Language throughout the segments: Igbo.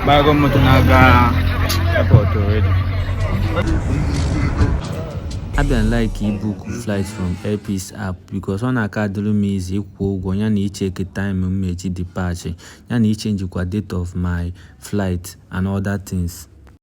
Bago moto na-aga airport already. Abịa m like ibook flight from Airpeace app because ọ na-aka adịrị m easy ịkwụ ụgwọ ya na icheki time m eji depart ya na ichenjikwa date of my flight and other things.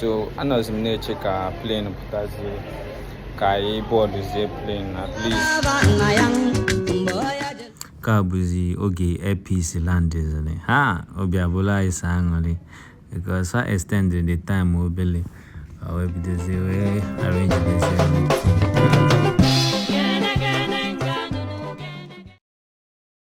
so anọzi m na-eche ka plane pụtazie ka anyị bọọdụzie plane at least nke a bụzi oge Airpeace landizili ha obi abụlụ anyị sọ aṅụlị because fa extend the time obele wee bidozie wee arrange this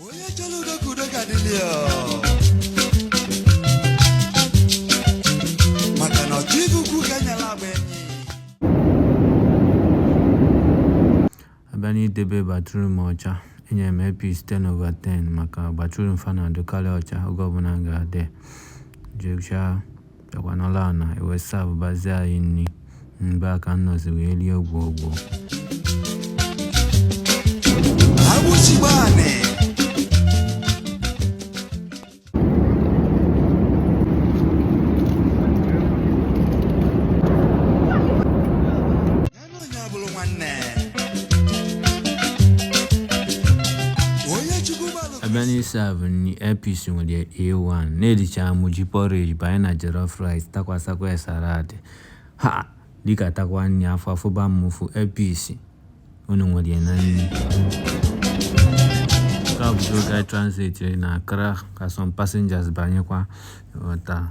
onye chọrọ udo ka udo ga-adịlị ya maka na ọchụ ibe ukwu ka enyela agba enyi abịa n'idebe bathroom ọcha enyere m Airpeace 10 over 10 maka bathroom fa na-adịkalị ọcha oge ọbụna m ga-adị jechaa Bịakwa nọlụ ana, e wee savụbazie anyị nni. Mgbe a ka m nọzi wee lie gwogwo. abịa n'ịsavụ nni Airpeace nwere a1 na elichaa m ji porridge banye na jollof rice tụkwasakwa ya salad m likatakwa nni afọ afụba m ụfụ Airpeace unu nwere ya na nni nke a bụ oge a transit na Accra ka some passengers banyekwa taa